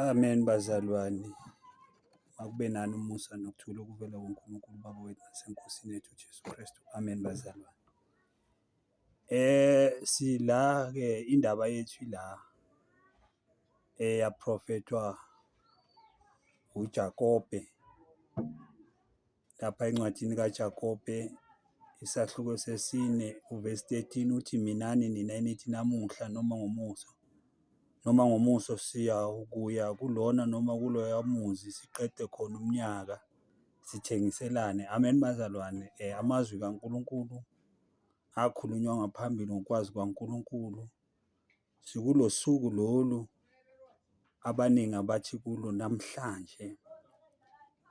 Amen bazalwane akube nani umusa nokuthula okuvela kuNkulunkulu uBaba wethu naseNkosini yethu uJesu Kristu. Amen bazalwane. Sila-ke indaba yethu ila eyaprofethwa uJakobe. lapha encwadini kaJakobe isahluko sesine uvesi 13 uthi minani nina enithi namuhla noma ngomuso noma ngomuso siya kuya kulona noma kuloya muzi siqede khona umnyaka sithengiselane amen bazalwane um amazwi kaNkulunkulu akhulunywa ngaphambili ngokwazi kwaNkulunkulu Sikulosuku lolu abaningi abathi kulo namhlanje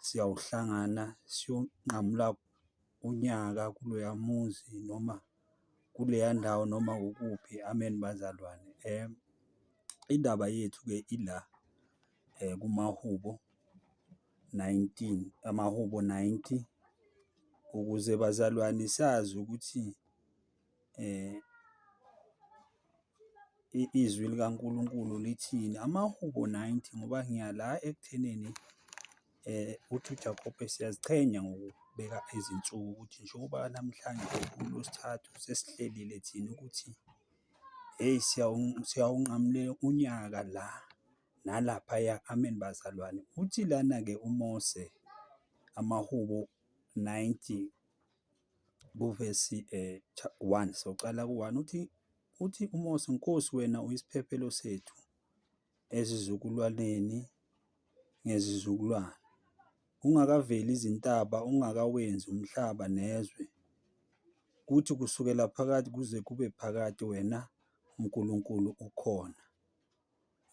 siyawuhlangana siyonqamula unyaka kuloya muzi noma kuleya ndawo noma kukuphi. Amen bazalwane. Indaba yethu-ke ila kumahubo nineteen, amahubo ninety ukuze bazalwane sazi ukuthi. izwi likaNkulunkulu lithini. Amahubo ninety ngoba ngiya la ekuthenini uthi uJakobe siyaziqhenya ngokubeka izinsuku ukuthi njengoba namhlanje uLwesithathu sesihlelile thina ukuthi hheyi siyawunqamula unyaka la nalaphaya. Amen bazalwane. Uthi lana-ke uMose, Amahubo ninety. kuvesi 1, soqala ku-1, uthi, uthi uMose, Nkosi, wena uyisiphephelo sethu ezizukulwaneni ngezizukulwane, ungakaveli izintaba, ungakawenzi umhlaba nezwe, kuthi kusukela phakade kuze kube phakade wena uNkulunkulu ukhona.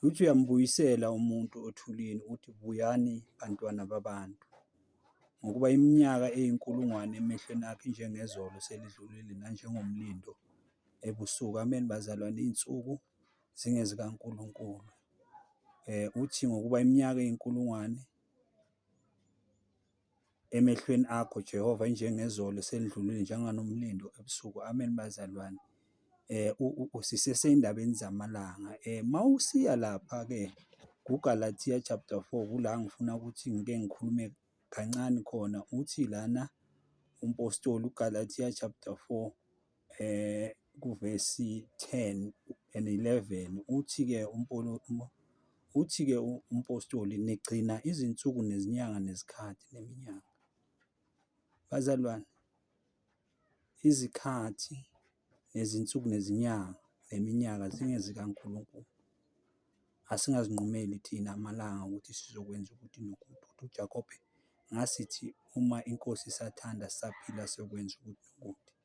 Uthi uyambuyisela umuntu othulini uthi buyani bantwana babantu, ngokuba iminyaka eyinkulungwane emehlweni akhe injengezolo selidlulile nanjengomlindo ebusuku. Amen bazalwane, iy'nsuku zingezikaNkulunkulu. Uthi ngokuba iminyaka eyinkulungwane Emehlweni akho Jehova injengezolo selidlulile njenganomlindo ebusuku. Amen bazalwane. Eh sisesendabeni zamalanga. Eh mawusiya lapha ke kuGalatia chapter 4 kula ngifuna ukuthi ngike ngikhulume kancane khona uthi lana umpostoli uGalatia chapter 4 eh, kuvesi 10 and 11 uthi-ke uthi-ke umpostoli nigcina izinsuku nezinyanga nezikhathi neminyaka bazalwane izikhathi nezinsuku nezinyanga neminyaka zingezikaNkulunkulu asingazinqumeli thina amalanga ukuthi sizokwenza ukuthi nokuthi ukuthi uJakobe ngasithi uma inkosi isathanda saphila siyokwenza ukuthi nokuthi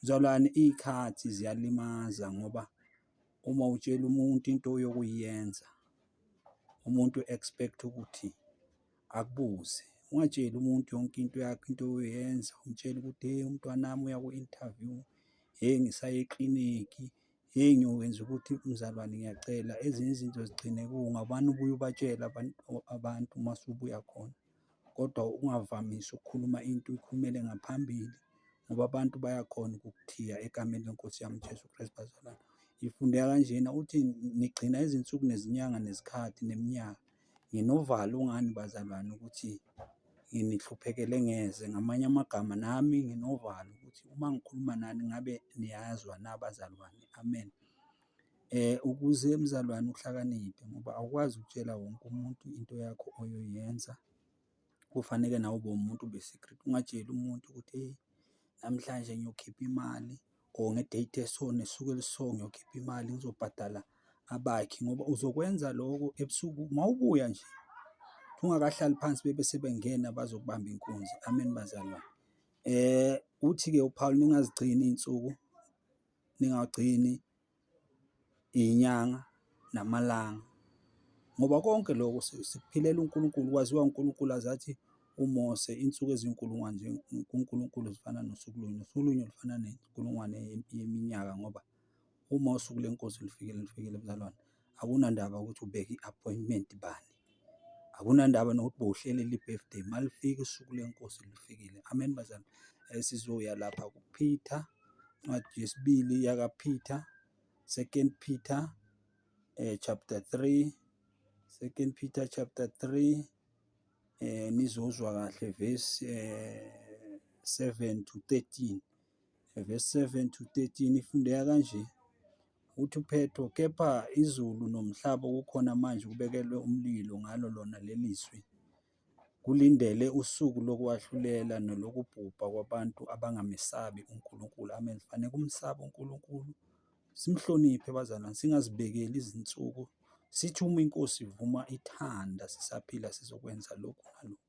Mzalwane iy'khathi ziyalimaza ngoba uma utshela umuntu into yokuyenza umuntu u-expect ukuthi akubuze. Ungatsheli umuntu yonke into yakho into oyoyenza umtshele ukuthi hheyi umntwana wami uya ku-inthavyu, hheyi ngisaye eklinikhi, hheyi ngiyokwenza ukuthi mzalwane ngiyacela ezinye izinto zigcine kunga ubani obuye ubatshele abantu uma usubuya khona. kodwa ungavamisi ukukhuluma into uyikhulumele ngaphambili ngoba abantu bayakhona ukukuthiya egameni leNkosi yami uJesu Kristu bazalwane. Ngifundeka kanjena ukuthi nigcina izinsuku nezinyanga nezikhathi neminyaka. Nginovalo ngani bazalwane ukuthi nginihluphekele ngeze, ngamanye amagama nami nginovalo ukuthi uma ngikhuluma nani ngabe niyazwa na bazalwane? Amen. Ukuze mzalwane uhlakaniphe ngoba awukwazi ukutshela wonke umuntu into yakho oyoyenza, kufaneke nawe ube umuntu be-secret, ungatsheli umuntu ukuthi hheyi namhlanje ngiyokhipha imali or nge-date eso ngosuku eliso ngiyokhipha imali ngizobhadala abakhi ngoba uzokwenza loko ebusuku uma ubuya nje ungakahlali phansi bebe sebengena bazokubamba inkunzi. Amen bazalwane. Uthi-ke uPhawuli ningazigcini iy'nsuku, ningagcini. iy'nyanga namalanga ngoba konke loko sikuphilela uNkulunkulu. Kwaziwa uNkulunkulu aze athi uMose insuku ezinkulungwane kuNkulunkulu zifana nosuku lunye, nosuku lunye lufana nenkulungwane yeminyaka ngoba uma usuku leNkosi lufikile, lufikile mzalwane. Akunandaba ukuthi ubeke i-appointment bani, akunandaba nokuthi bowuhlelelwe i-birthday, uma lifika usuku leNkosi lufikile. Amen bazalwane. Sizoya lapha kuPeter, incwadi yesibili yakaPeter, Second Peter chapter three, Second Peter chapter three, nizozwa kahle verse seven to thirteen. verse 7 to 13 ifundeka kanje, uthi uphetho, kepha izulu nomhlaba okukhona manje kubekelwe umlilo ngalo lona leli zwi, kulindele usuku lokwahlulela nolokubhubha kwabantu abangamesabi uNkulunkulu. Amen. Fanele kumsaba uNkulunkulu, simhloniphe bazalwane, singazibekeli izinsuku, sithi uma iNkosi ivuma ithanda sisaphila sizokwenza lokhu nalokhu.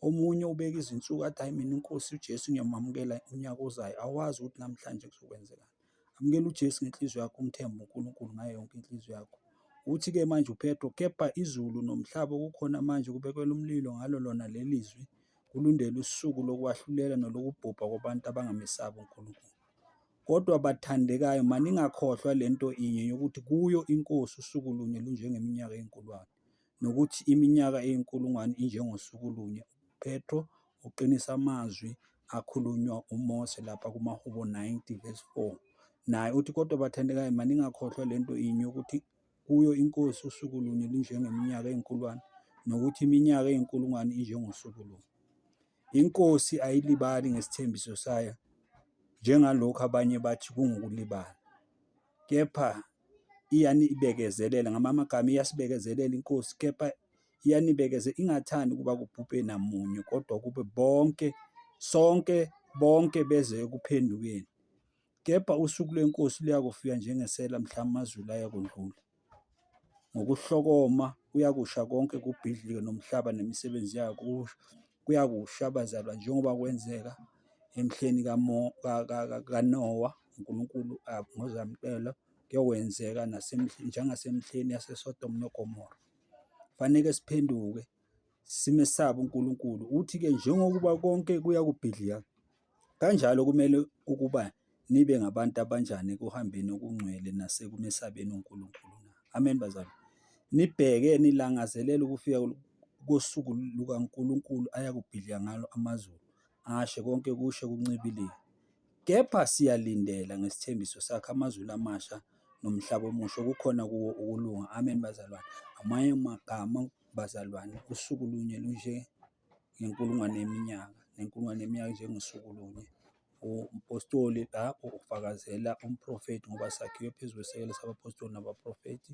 Omunye ubeke izinsuku athi hhayi mina iNkosi uJesu ngiyomamukela unyaka ozayo, awazi ukuthi namhlanje kuzokwenzekani. Amukela uJesu ngenhliziyo yakho, umthembe uNkulunkulu ngayo yonke inhliziyo yakho. Uthi-ke manje uPetro, kepha izulu nomhlaba okukhona manje kubekelwe umlilo ngalo lona leli zwi, kulindele usuku lokwahlulela nolokubhubha kwabantu abangamesabi uNkulunkulu. Kodwa bathandekayo, maningakhohlwa le nto inye yokuthi kuyo iNkosi usuku lunye lunjengeminyaka eyinkulungwane. nokuthi iminyaka eyinkulungwane injengosuku lunye. UPetru uqinisa amazwi akhulunywa uMose lapha kumaHubo 90 verse 4. Naye uthi, Kodwa bathandekayo, maningakhohlwa le nto inye, ukuthi kuyo iNkosi usuku lunye lunjengeminyaka eyinkulungwane, nokuthi iminyaka eyinkulungwane injengosuku lunye. INkosi ayilibali ngesithembiso sayo njengalokhu abanye bathi kungukulibala. kepha iyanibekezelela, ngamanye amagama iyasibekezelela iNkosi, kepha iyanibekezela, ingathandi ukuba kubhubhe namunye, kodwa kube bonke, sonke, bonke beze ekuphendukeni. Kepha usuku lweNkosi luyakufika njengesela mhla amazulu ayakudlula. ngokuhlokoma kuyakusha konke kubhidlike nomhlaba nemisebenzi yayo kuyakusha bazalwane njengoba kwenzeka emhleni kaNowa uNkulunkulu ngozamcelo kuyokwenzeka njengasemhleni yaseSodom noGomora. Kufaneke siphenduke. simesabe uNkulunkulu. Uthi-ke njengokuba konke kuyakubhidlika, kanjalo kumele ukuba nibe ngabantu abanjani ekuhambeni okungcwele nasekumesabeni uNkulunkulu na? Amen, bazali. Nibheke, nilangazelele ukufika kosuku lukaNkulunkulu ayakubhidlika ngalo amazulu, ashe konke kushe kuncibilike. Kepha siyalindela ngesithembiso sakhe amazulu amasha nomhlaba omusha okukhona kuwo ukulunga. Amen, bazalwane. Amanye amagama bazalwane, usuku lunye lunjengenkulungwane yeminyaka, nenkulungwane yeminyaka injengosuku lunye. Umpostoli lapho ufakazela umprofethi ngoba sakhiwe phezu kwesisekelo sabaphostoli nabaprofethi.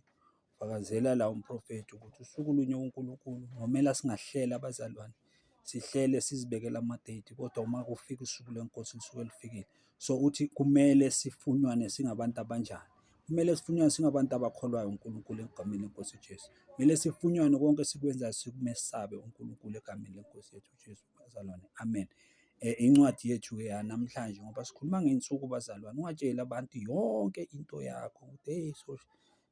Ufakazela la umprofethi ukuthi usuku lunye kuNkulunkulu, nomele asingahlela abazalwane. sihlele sizibekele ama-date kodwa uma kufika usuku lweNkosi lisuke lifikile. So, uthi kumele sifunyanwe singabantu abanjani? Kumele sifunyanwe singabantu abakholwayo uNkulunkulu egameni leNkosi uJesu. Kumele sifunyanwe konke esikwenzayo sikumesabe uNkulunkulu egameni leNkosi yethu uJesu. Bazalwane, amen. Eh, incwadi yethu-ke yanamhlanje ngoba sikhuluma ngey'nsuku bazalwane, ungatsheli abantu yonke into yakho ukuthi heyi so.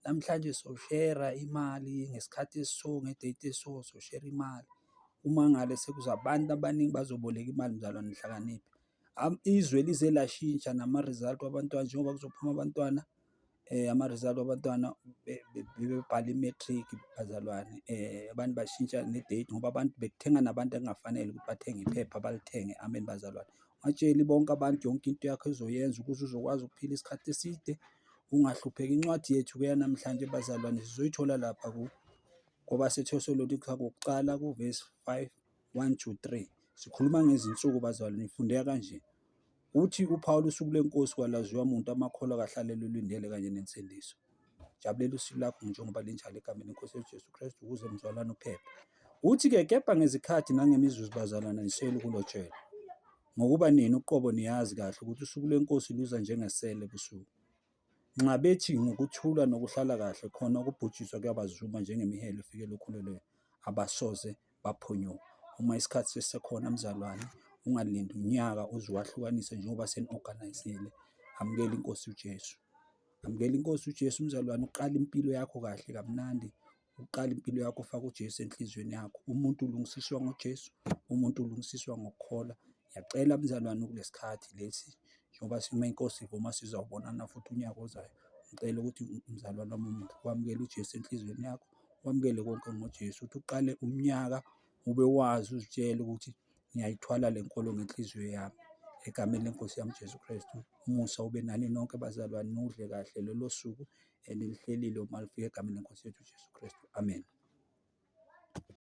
Namhlanje soshera imali ngesikhathi esiso nge-date esiso soshera imali. Uma ngale sekuza abantu abaningi bazoboleka imali mzalwane hlakanipha. Izwe lize lashintsha nama-result wabantwana njengoba kuzophuma abantwana ama-result wabantwana bebebhala i-matric bazalwane abantu bashintsha ne-date ngoba abantu bekuthenga nabantu ekungafanele ukuthi bathenge iphepha balithenge. Amen bazalwane. Ungatsheli bonke abantu yonke into yakho ezoyenza ukuze uzokwazi ukuphila isikhathi eside. Ungahlupheki incwadi yethu-ke yanamhlanje bazalwane sizoyithola lapha ku kwabaseThesalonika kokuqala kuvesi 5, 1-3. Sikhuluma ngezinsuku bazalwane ifundeka kanje. Uthi uPawulu usuku lenkosi kwalaziwa muntu amakholwa kahlalele ulindele kanye nensindiso. Jabulela usuku lakho njengoba linjalo egameni lenkosi yethu Jesu Kristu ukuze mzalwane uphephe. Uthi-ke kepha ngezikhathi nangemizuzu bazalwane nisele ukulotshelwa. Ngokuba nina uqobo niyazi kahle ukuthi usuku lweNkosi luza njengesela ebusuku. Nxa bethi ngokuthula nokuhlala kahle khona ukubhujiswa kuyabazuma njengemihelo efikela okhulelweni, abasoze baphunyuka. Uma isikhathi sisekhona mzalwane, ungalindi unyaka uze uwahlukanise njengoba seni-organise-ile. Amukela iNkosi uJesu. Amukela iNkosi uJesu mzalwane, uqale impilo yakho kahle kamnandi, Uqala impilo yakho ufake uJesu enhlizweni yakho. Umuntu ulungisiswa ngoJesu, umuntu ulungisiswa ngokukholwa. Ngiyacela mzalwane kulesi khathi lesi njengoba uma inkosi ivuma sizawubonana futhi unyaka ozayo. Ngicela ukuthi mzalwane wami omuhle wamukele uJesu enhlizweni yakho, wamukele konke ngoJesu ukuthi uqale umnyaka ube wazi uzitshele ukuthi ngiyayithwala le nkolo ngenhliziyo yami. Egameni leNkosi yami uJesu Kristu, umusa ube nani nonke bazalwane, nudle kahle lolo suku elilihlelile uma lifika egameni leNkosi yethu uJesu Kristu. Amen.